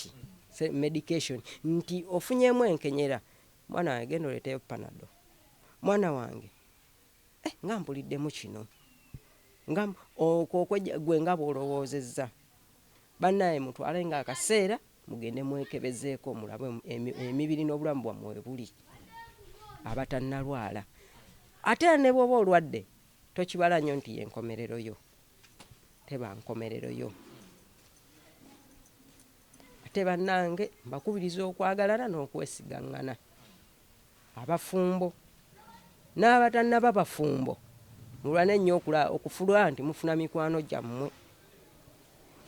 medication nti ofunyemu enkenyera Mwana wange genda oleteyo panado. Mwana wange eh, nga mpuliddemu kino nga okwo gwe nga bwolowoozezza bannaye mutwale nga akaseera mugende mwekebezeeko mulabe emibiri n'obulamu bwammwe webuli abatannalwala ate era ne bwoba olwadde tokibala nnyo nti yenkomerero yo teba nkomerero yo Ate bannange mbakubiriza okwagalana n'okwesigaŋŋana. Abafumbo n'abatannaba bafumbo mulwane nnyo okufulwa nti mufuna mikwano gyammwe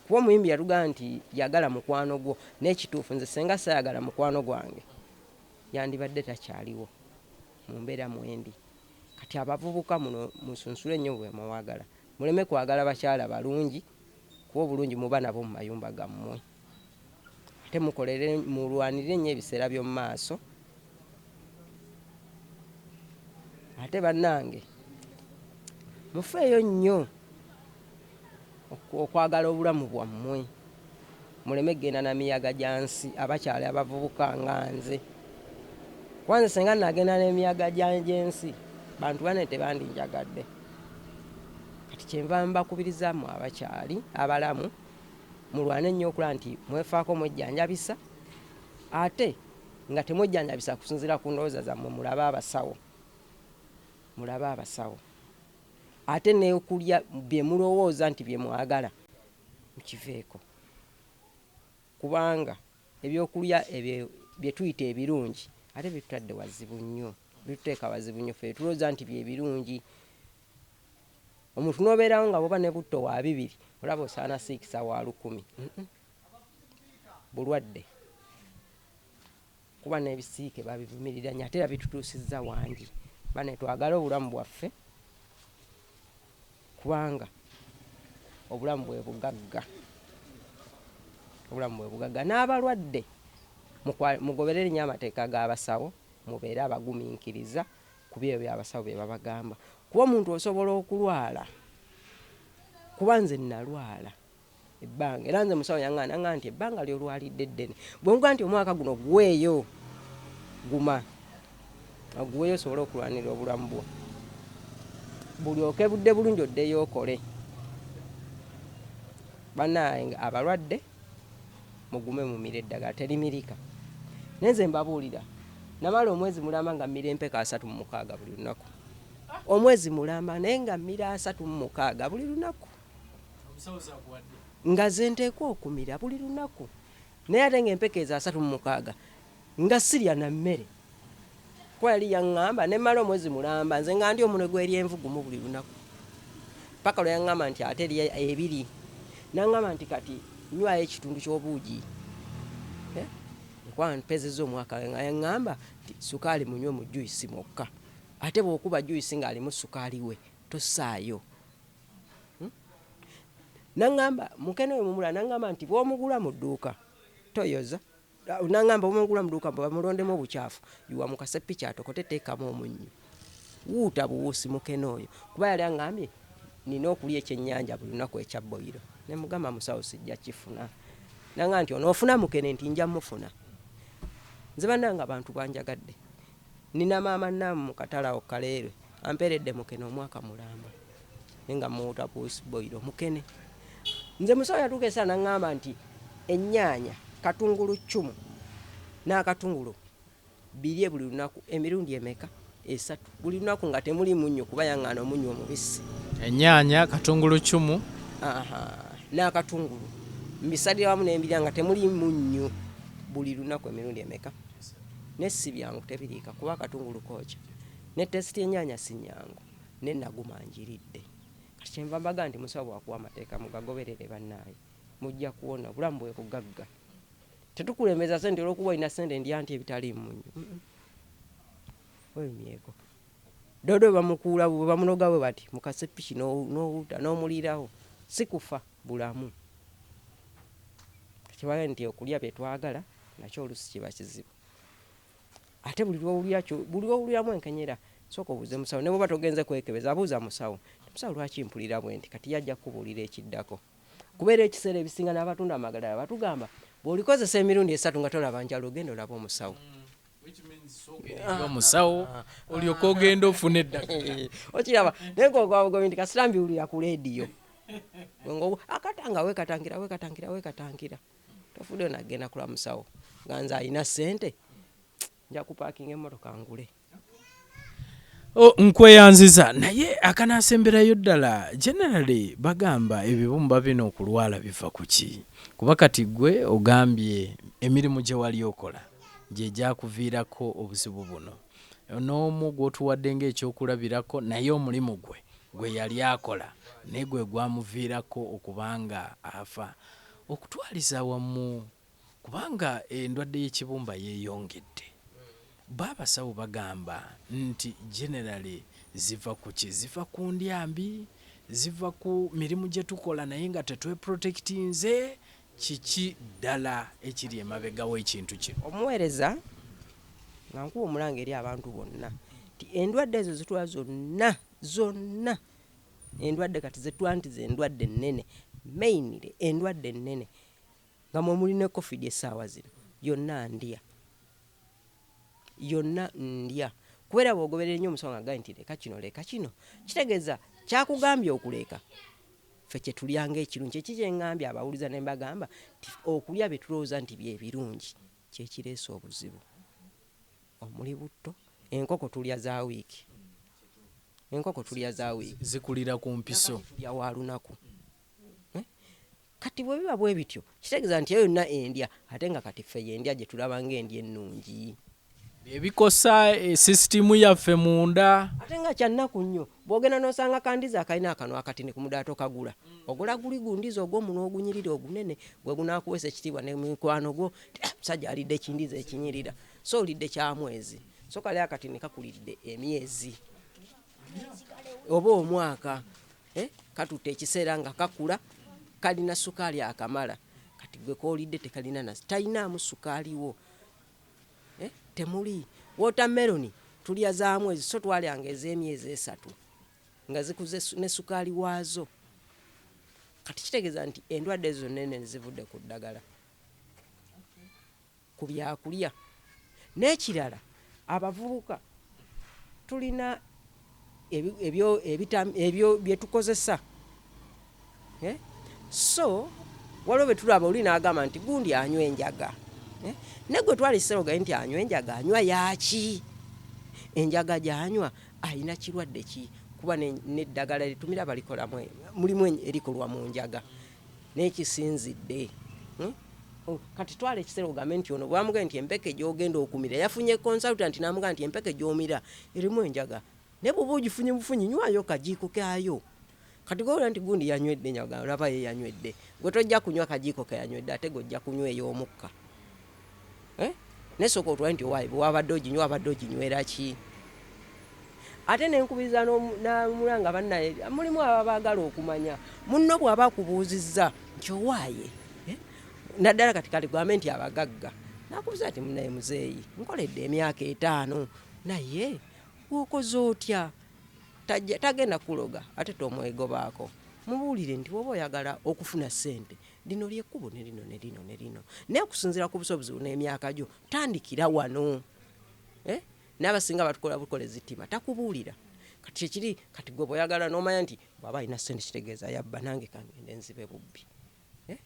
kuba omuyimbi yatugamba nti yagala mukwano gwo naye kituufu nze senga sayagala mukwano gwange yandibadde takyaliwo mu mbeera mwendi kati abavubuka muno musunsule nnyo bwe muwagala muleme kwagala bakyala balungi kuba obulungi muba nabwo mu mayumba gammwe ate mukolere mulwanirire nnyo ebiseera by'omu maaso ate bannange mufeeyo nnyo okwagala obulamu bwammwe. Muleme kugenda na miyaga gya nsi abakyala abavubuka nga nze. Kuba nze singa nagenda n'emiyaga gy'ensi bantu bane tebandinjagadde. Kati kyenva mbakubiriza mwe abakyali abalamu mulwane nnyo okulaba nti mwefaako mwejjanjabisa ate nga temwejjanjabisa kusinziira ku ndowooza zammwe mulabe abasawo mulabe abasawo ate n'okulya bye mulowooza nti bye mwagala. mukiveeko kubanga ebyokulya ebyo byetuyita ebirungi ate bitutadde wazibu nnyo bituteeka wazibu nnyo fe tulowooza nti byebirungi omuntu nobeerawo nga bwoba ne butto wa bibiri olaba osaana siikisa wa lukumi bulwadde kuba n'ebisiike babivumirira nnyo ate era bitutuusizza wangi. Bane twagale obulamu bwaffe kubanga obulamu bwe bugagga, obulamu bwe bugagga. N'abalwadde mugoberere nnyo amateeka g'abasawo, mubeere abagumiikiriza ku byo abasawo bye babagamba kuba omuntu osobola okulwala kuba nze nalwala ebbanga era nze musawo yaŋŋaana nga nti ebbanga ly'olwalidde ddene bwe nkuga nti omwaka guno guweeyo guma oguweeyo osobole okulwanirira obulamu bwo bulyoke budde bulungi oddeyo okole banaye abalwadde mugume mumira eddagala terimirika naye nze mbabuulira namala omwezi mulamba nga mmira empeka asatu mu mukaaga buli lunaku omwezi mulamba naye nga mmira asatu mu mukaaga buli lunaku nga ze nteekwa okumira buli lunaku naye ate nga empeke ezo asatu mu mukaaga nga sirya na mmere kuba yali yaŋŋamba ne mmala omwezi mulamba nze nga ndi omunwe gw'eryenvu gumu buli lunaku paka lwe yaŋŋamba nti ate erya ebiri naŋŋamba nti kati nywayo ekitundu ky'obuugi eh? kuba mpezeza omwaka nga yaŋŋamba nti sukaali munywe mu juyisi mwokka ate bw'okuba juyisi ng'alimu sukaali we tosaayo hmm? nangamba mukene oyo mumula nangamba nti bwomugula mu dduuka toyoza nangamba omugula mu dduuka bamulondemu obukyafu yiwa mu kasepiki atokote teekamu omunnyo wuuta buwuusi mukene oyo kuba yali angambye nina okulya ekyennyanja buli lunaku ekya boyiro ne mugamba musawo sijja kifuna nanga nti onoofuna mukene nti nja mufuna nze bananga abantu banjagadde Nnina maama Namu mu katale awo Kaleerwe ampeeredde mukene omwaka mulamba naye nga mmuwuuta ku usibboyiro mukene. Nze musawo yatuuka esaa n'ang'amba nti ennyaanya, katungulu ccumu n'akatungulu birye buli lunaku emirundi emeka? Esatu buli lunaku nga temuli munnyo kuba yang'aana omunnyo omubisi. Ennyaanya, katungulu ccumu. Aha, n'akatungulu mbisalira wamu ne mbirya nga temuli munnyo buli lunaku emirundi emeka? ne sibyangu tebiriika kuba akatungulu kookya ne test y'ennyanya si nnyangu ne naguma njiridde kati kyenva mbaga nti musawo bwakuwa amateeka mugagoberere bannaaye mujja kuwona obulamu bwe bugagga tetukulembeza sente olwokuba olina sente ndya nti ebitaliimu munyo webimyeko dodo bamukuula bwe bamunoga bwe bati mukase piki n'owuta n'omuliirawo si kufa bulamu tekibaga nti okulya bye twagala Nakyo oluusi kiba kizibu. Ate buli lw'owulira kyo, buli lw'owuliramu enkenyera, sooka obuuze musawo. Ne bw'oba togenze kwekebeza, buuza musawo nti, Musawo, lwaki mpulira bwenti? Kati y'ajja kukubuulira ekiddako. Kuba era ekiseera ebisinga n'abatunda amagadala batugamba, Bw'olikozesa emirundi esatu nga tolaba njawulo, genda olabe omusawo. omusawo olyoke ogende ofune eddagala okiraba naye ngogwabugobi nti kasita mbiwulira ku leediyo akatanga wekatangira wekatangira wekatangira tofude onagenda kulamusawo nga nze alina sente nja kupakinga emotoka ngule oh, nkweyanziza naye akanasemberayo ddala generally bagamba ebibumba bino okulwala biva ku ki kuba kati gwe ogambye emirimu gye wali okola gye gyakuviirako obuzibu buno n'omu gw'otuwadde ng'ekyokulabirako naye omulimu gwe gwe yali akola naye gwe gwamuviirako okubanga afa okutwaliza awamu kubanga endwadde y'ekibumba yeyongedde bbo abasawo bagamba nti generally ziva kuki ziva ku ndya mbi, ziva ku mirimu gyetukola naye nga tetweprotectinze kiki ddala ekiri emabega w'ekintu kino. Omuweereza nga nkuwa omulanga eri abantu bonna nti endwadde ezo zitwala zonna zonna Endwadde kati zetuwa nti zendwadde ennene mainly endwadde ennene nga mwemuli ne covid esaawa zino yonna ndya yonna ndya kuba era bwogoberera ennyo omusawo nga agaye nti leka kino leka kino kitegeeza kyakugambye okuleeka ffe kyetulyanga ekirungi kyeki kyengambye abawuliza ne mbagamba nti okulya byetulowooza nti byebirungi kyekireesa obuzibu. Omuli butto, enkoko tulya za wiiki, enkoko tulya za wiiki. Zikulira ku mpiso. Namagi tulya wa lunaku. Kati bwe biba bwe bityo, kitegeeza nti eyo yonna endya ate nga kati ffe y'endya gye tulaba ng'endya ennungi. Bye bikosa sisitiimu yaffe munda. Ate nga kya nnaku nnyo bw'ogenda n'osanga ka ndizi akalina akanwa akatini ku mudaala tokagula. Ogula guli gu ndizi ogw'omunwa ogunyirira ogunene gwe gunaakuweesa ekitiibwa ne mu mikwano gwo nti, Musajja alidde ki ndizi ekinyirira. so olidde kya mwezi so kale akati ne kakulidde emyezi oba omwaka eh, katutte ekiseera nga kakula kalina sukaali akamala kati gwe koolidde tekalina na talinaamu sukaaliwo eh, temuli wotameroni tulya za mwezi so twalyanga ez'emyezi esatu nga zikuze ne sukaali waazo kati kitegeeza nti endwadde ezo nene zivudde ku ddagala ku byakulya n'ekirala abavubuka tulina ebyo bye tukozesa eh? so waliwo bye tulaba oli n'agamba nti gundi anywa enjaga eh? ne gwe twali serogaye nti anywa enjaga anywa yaaki enjaga gy'anywa alina kirwadde ki kuba n'eddagala litumira balikolamu mulimu erikolwa mu njaga Naye kisinzidde oh, kati twala ekiseera ogambe nti ono bwamugee nti empeke gyogenda okumira yafunye consultant namugaa nti empeke gyomira erimu enjaga naye bwoba ogifunye bufunyi nywayo kajiiko kayo kati gowulira nti gundi yanywedde nyaga olaba ye yanywedde gwe tojja kunywa kajiiko keyanywedde ate gojja kunywa ey'omukka eh? naye soka otwale nti owaye bwewabadde oginywa wabadde oginywera ki ate nenkubiriza namulanga bannaye mulimu ababagala okumanya munno bwaba akubuuzizza nti owaaye eh? naddala kati kaligwame nti abagagga nakubuza nti munaye muzeeyi nkoledde emyaka etaano naye wokoze otya tagenda kuloga ate tomwegobaako mubuulire nti woba oyagala okufuna ssente lino lyekkubo ne lino ne lino ne lino naye okusinziira ku busobozi bu n'emyaka gyo tandikira wano eh? n'abasinga batukola bukola ezittima takubuulira kati kyekiri kati gwe bweyagala n'omanya nti bwaba alina sente kitegeeza yabba nange kangende nzibe bubbi eh?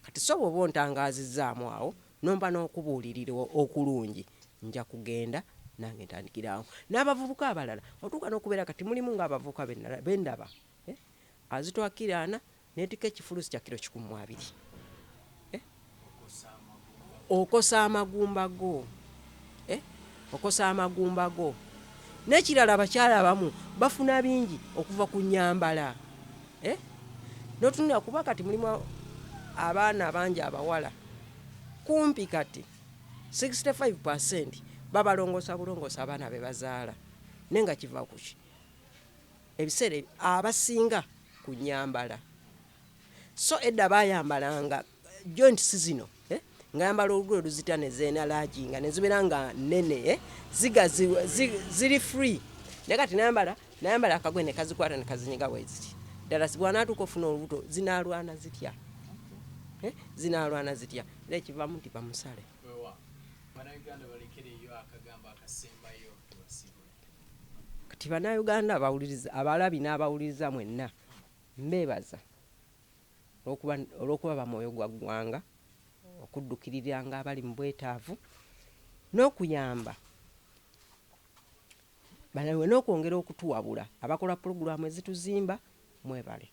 kati so bwoba ontangaazizaamu awo nomba n'okubuulirira okulungi nja kugenda nange ntandikiraawo n'abavubuka abalala otuuka n'okubeera kati mulimu ng'abavubuka bendaba eh? azitwakiraana Netika ekifulusi kya kilo kikumi mu abiri eh? okosa amagumba go eh? okosa amagumba go nekirala abakyala abamu bafuna bingi okuva ku nyambala eh? notunula kuba kati mulimu abaana bangi abawala kumpi kati 65 babalongosa bulongosa abaana bebazaala naye nga kiva kuki Ebiseera abasinga ku nnyambala so edda baayambalanga joint si zino eh, nga yambala olugoye oluzita ne zeenalaajinga ne zibeera nga nnene eh, ziga zi- zi- ziri free naye kati nayambala nayambala akagoye ne kazikwata ne kazinyiga weeziri ddala si bw'anaatuuka ofuna olubuto zinaalwana zitya Eh, zinaalwana zitya era ekivaamu nti bamusale Wewa. Bannayuganda balekereyo akagambo akasembayo. Kati banauganda abawuliriza abalabi n'abawuliriza mwenna mbeebaza olwokuba olwokuba bamwoyo gwa ggwanga okuddukiriranga abali mu bwetaavu n'okuyamba banawe n'okwongera okutuwabula abakola pulogulaamu ezituzimba mwebale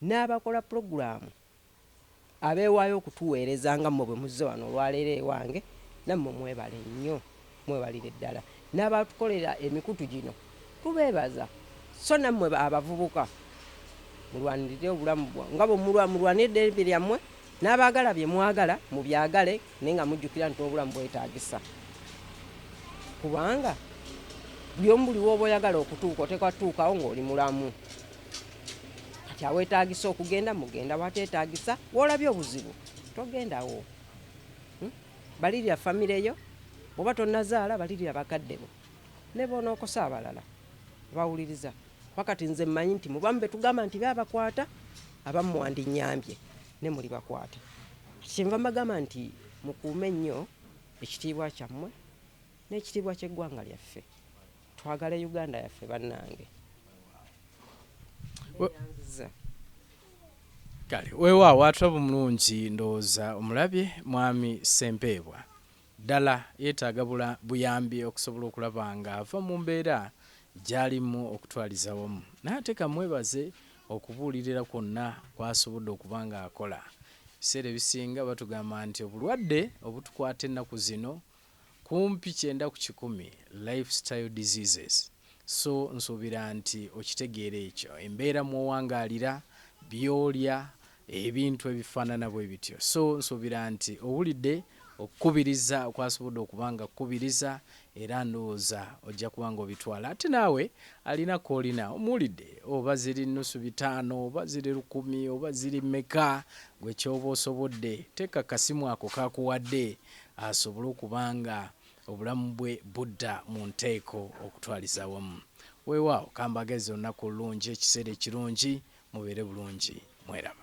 n'abakola pulogulaamu abeewaayo okutuweereza nga mmwe bwe muzze wano olwaleero ewange, nammwe mwebale nnyo, mwebalire ddala n'abatukolera emikutu gino tubeebaza, sso nammwe abavubuka mulwanirire obulamu bwa nga bwe mulwa mulwanira eddembe lyammwe n'abaagala bye mwagala mubyagale naye nga mujjukira nti n'obulamu bwetaagisa kubanga buli omu buli w'oba oyagala okutuuka oteekwa kutuukawo ng'oli mulamu. kati awetagisa okugenda mugenda watetagisa wolabye obuzibu togendawo hmm? balirira famire yo oba tonazaala balirira bakadde bo nebonookosa abalala bawuliriza wakati nze mmanyi nti mubamu betugamba nti beabakwata abamu mwandinyambye ne muli bakwata kyenva mbagamba nti mukuume nnyo ekitiibwa kyammwe n'ekitiibwa ky'eggwanga lyaffe Twagale Uganda yaffe bannange. Kale weewaawo ate obulungi ndowooza omulabye mwami Ssempeebwa ddala yeetaaga buyambi okusobola okulaba ng'ava mu mbeera gy'alimu okutwaliza wamu naye ate kamwebaze okubuulirira kwonna kwasobodde okuba ng'akola ebiseera ebisinga batugamba nti obulwadde obutukwata ennaku zino Kumpi kyenda ku kikumi life style diseases so nsuubira nti okitegeera ekyo, embeera mw'owangaalira, by'olya, ebintu ebifaanana bwe bityo so nsuubira nti owulidde okukubiriza kw'asobodde okuba nga akukubiriza era ndowooza ojja kuba nga obitwala ate naawe alina k'olina omuwulidde oba ziri nnusu bitaano oba ziri lukumi oba ziri mmeka gwe ky'oba osobodde teeka ku kasimu ako k'akuwadde asobole okuba nga obulamu bwe budda mu nteeko okutwaliza awamu. Weewaawo kambagalize olunaku olulungi, ekiseera ekirungi, mubeere bulungi. Mweraba.